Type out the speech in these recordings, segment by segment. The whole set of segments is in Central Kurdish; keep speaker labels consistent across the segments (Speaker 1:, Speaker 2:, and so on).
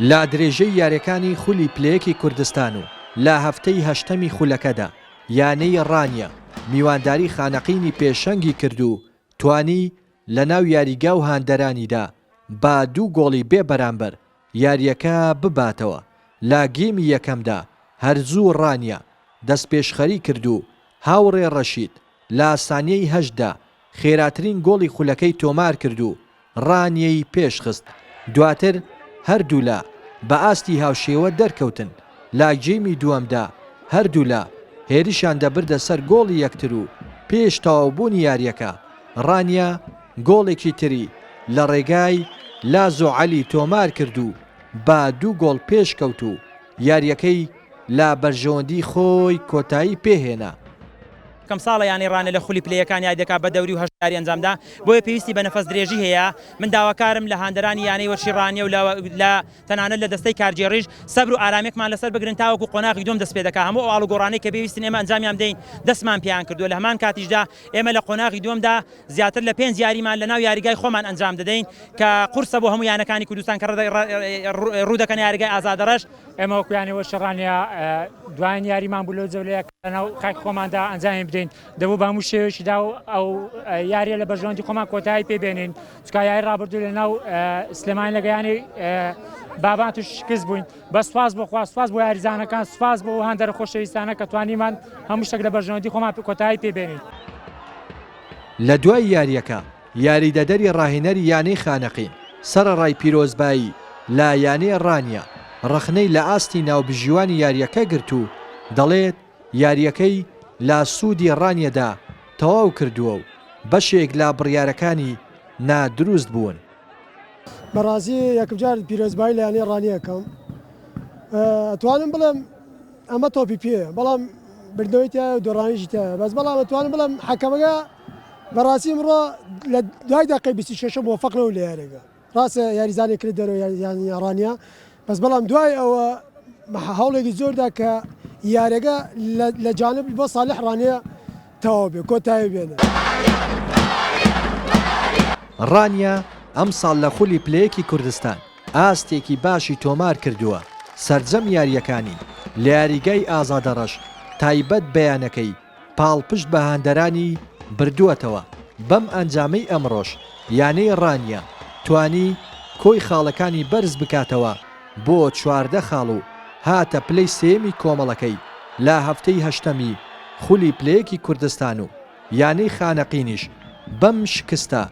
Speaker 1: لە درێژەی یاریەکانی خولی پلەیەکی کوردستان و لە هەفتەی هەشتەمی خولەکەدا یانەی ڕانیە میوانداری خانەقینی پێشەنگی کرد و توانی لە ناو یاریگا و هاندەرانیدا بە دوو گۆڵی بێ بەرامبەر یاریەکە بباتەوە لە گێمی یەکەمدا هەر زوو ڕانیە دەستپێشخەری کرد و هاوڕێ ڕەشید لە سانیەی هەشت دا خێراترین گۆڵی خولەکەی تۆمار کرد و ڕانیەی پێشخست دواتر هەردوولا بە ئاستی هاوشێوە دەرکەوتن لە گێمی دووەمدا هەردوولا هێرشیان دەبردە سەر گۆڵی یەکتر و پێش تەواوبوونی یاریەکە ڕانیە گۆڵێکی تری لە ڕێگای لازۆ عەلی تۆمارکرد و بە دوو گۆڵ پێشکەوت و یارییەکەی لە بەرژەوەندی خۆی کۆتایی پێهێنا. کەم
Speaker 2: ساڵە یانەی ڕانیە لە خولی پلەیەکان یاری دەکات بە دەوری و هەشت یاری ئەنجامدا بۆیە پێویستی بە نەفەس درێژی هەیە من داواکارم لە هاندەرانی یانەی وەرشی ڕانیە و لە تەنانەت لە دەستەی کارگێڕیش سەبر و ئارامێکمان لەسەر بگرن تاوەکو قۆناغی دووەم دەست پێدەکات، هەموو ئەو ئاڵوگۆڕانەی کە پێویستن ئێمە ئەنجامیان بدەین دەستمان پێیان کردووە، لە هەمان کاتیشدا ئێمە لە قۆناغی دووەمدا زیاتر لە پێنج یاریمان لەناو یاریگای خۆمان ئەنجام دەدەین کە قورسە بۆ هەموو یانەکانی کوردستان کە ڕوودەکەنە یاریگای ئازادڕەش. ئێمە وەکو یانەی
Speaker 3: وەرچەڕانیە دوایین یاریمان بوو لەو جەولەیە کە لەناو خاکی خۆماندا ئەنجامی بدەین، دەبوو بە هەموو شێوەیەکیدا ئەو یارییە لە بەرژەوەندی خۆمان کۆتایی پێبێنین، تکایای ڕابردوو لە ناو سلێمانی لە گەیانی بابان توش شکست بووین بە سواز بۆ خوا سواز بۆ یاریزانەکان سواز بۆ هەندەر خۆشەویستانە کە توانیمان هەموو شتێک لە بەرژەوەندی خۆمان کۆتایی پێبێنین
Speaker 1: لە دوای یاریەکە یاریدەدەری ڕاهێنەری یانەی خانەقین سەرەڕای پیرۆزبایی لە یانەی ڕانیە ڕەخنەی لە ئاستی ناوبژیوانی یاریەکە گرت و دەڵێت، یارییەکەی لا سودی رانیەدا تەواو کردووە و بەشێک لا بڕیارەکانی نا دروست بوون.
Speaker 4: بەڕاستی یەکمجار پیرۆزبایی لە یانەی ڕانیە ئەکەم ئەتوانم بڵێم ئەمە تۆپی پێیە بەڵام بردنەوەی تایە و دۆڕانیشی تایە بەس بەڵام ئەتوانم بڵێم حەکەمەکە بەڕاستی ئمڕۆ لە دوای دەقەی بیست و شەشە مۆفەق نەبوو لە یارێگە ڕاستە یاریزانێک کرد دەرەوە یان یاڕانیا بەس بەڵام دوای ئەوە هەوڵێکی زۆردا کە یارەگە لە جانب بۆ ساالح ڕانەیە تەواو بێ کۆتایی بێنێ.
Speaker 1: ڕانیە ئەمساڵ لە خولی پلەیەکی کوردستان ئاستێکی باشی تۆمار کردووە سرجەم یاریەکانی لە یاریگای ئازادەڕەش تایبەت بەیانەکەی پاڵپشت بە هاندەرانی بردووەتەوە، بەم ئەنجامەی ئەمڕۆش یانەی ڕانیە توانی کۆی خاڵەکانی بەرز بکاتەوە بۆ چواردە خاڵ و هاتە پلەی سێیەمی کۆمەڵەکەی لە هەفتەی هەشتەمی خولی پلەیەکی کوردستان و یانەی خانەقینیش بەم شکستە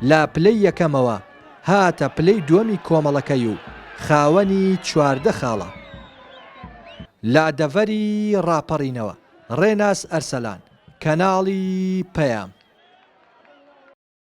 Speaker 1: لە پلەی یەکەمەوە هاتە پلەی دووەمی کۆمەڵەکەی و خاوەنی چواردە خاڵە لە دەڤەری ڕاپەڕینەوە. ڕێناس ئەرسەلان، کەناڵی پەیام.